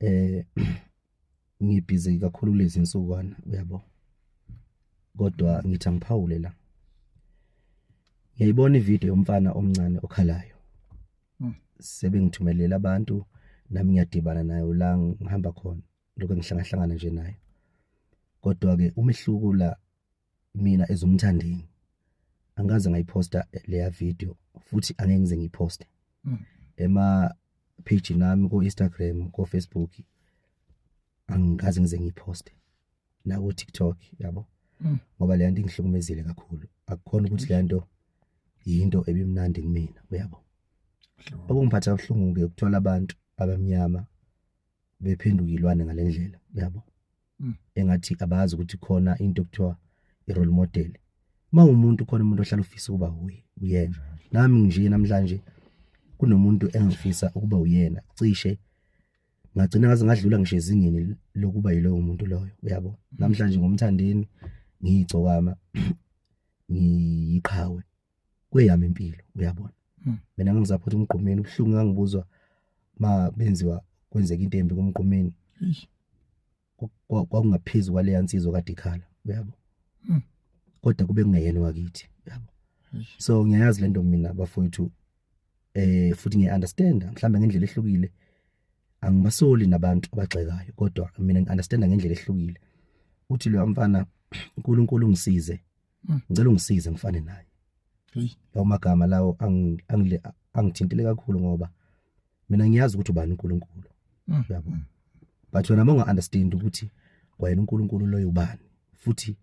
eh ngibhizi kakhulu lezi nsukwana uyabo kodwa ngithi angiphawule la ngiyayibona ivideo yomfana omncane okhalayo hmm. sebengithumelela abantu nami ngiyadibana nayo la ngihamba khona lokho ngihlangahlangana nje nayo kodwa ke umehluko la mina ezomthandeni angaze ngayiposta leya video futhi angeke ngize ngiyiposte mm. ema page nami ko Instagram ko Facebook angikaze ngize ngiyiposte la ku TikTok yabo mm. ngoba le nto ingihlukumezile kakhulu akukhona ukuthi le nto yinto ebimnandi kumina uyabo okungiphatha kabuhlungu ke ukuthola abantu abamnyama bephenduka ilwane ngalendlela uyabo mm. engathi abazi ukuthi khona into okuthiwa i-role model uma umuntu khona umuntu ohlala ufisa ukuba wuye uyena nami nje namhlanje kunomuntu engifisa ukuba uyena cishe ngagcina ngaze ngadlula ngisho ezingeni lokuba yilowo muntu loyo uyabo namhlanje ngomthandeni ngiyigcokama ngiyiqhawe kweyami impilo uyabona hmm. mina ngangizaphotha umgqumeni ubuhlungu ngangibuzwa ma benziwa kwenzeka into embi kumgqumeni kwakungaphezulu kwaleya nsizwa kade ikhala uyabo hmm. kodwa kube kungeyena wakithi uyabo so ngiyayazi lento mina bafowethu eh futhi ngiyaunderstand mhlawumbe ngendlela ehlukile angibasoli nabantu abagxekayo kodwa mina ngiunderstand ngendlela ehlukile uthi lo mfana uNkulunkulu ungisize Mm. ngicela ungisize ngifane naye Hey. lawo magama lawo angi- angile- angithintile kakhulu ngoba mina ngiyazi ukuthi ubani uNkulunkulu Mm. yabo Mm. but wena uma unga-understand ukuthi kwayena uNkulunkulu loyo ubani futhi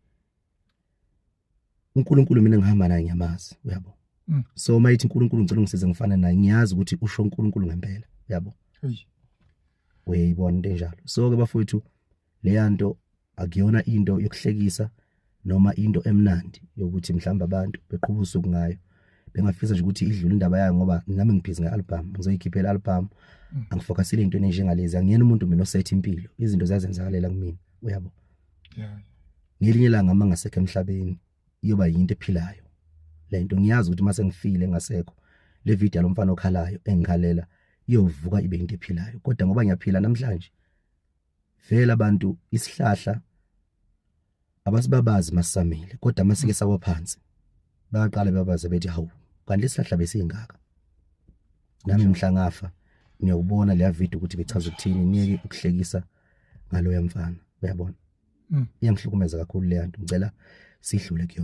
uNkulunkulu mina ngihamba naye ngiyamazi uyabo Mm. so uma yithi uNkulunkulu ngicela ungisize ngifane naye ngiyazi ukuthi usho uNkulunkulu ngempela uyabo Hey. uyayibona into enjalo so-ke bafowethu leyanto akuyona into yokuhlekisa noma into emnandi yokuthi mhlawumbe abantu beqhuba usuku ngayo bengafisa nje ukuthi idlule indaba yayo ngoba nami ngibhizi nge-album ngizoyikhiphela i-album mm. angifokasile into enjengalezi angiyena umuntu mina osetha impilo izinto ziyazenzakalela kumina uyabo ngelinye ilanga uma ngasekho emhlabeni iyoba yinto ephilayo le nto ngiyazi ukuthi uma sengifile ngasekho le video lo mfana okhalayo engikhalela iyovuka ibe into ephilayo kodwa ngoba ngiyaphila namhlanje vele abantu isihlahla abasibabazi masamile kodwa masike sawa phansi bayaqala babaze bethi hawu kanti isihlahla besingaka nami mhla ngafa ngiyawubona leya video ukuthi bechaza ukuthini niyeke ukuhlekisa ngaloya mfana uyabona hmm. iyangihlukumeza kakhulu leya nto ngicela sidlule kuyona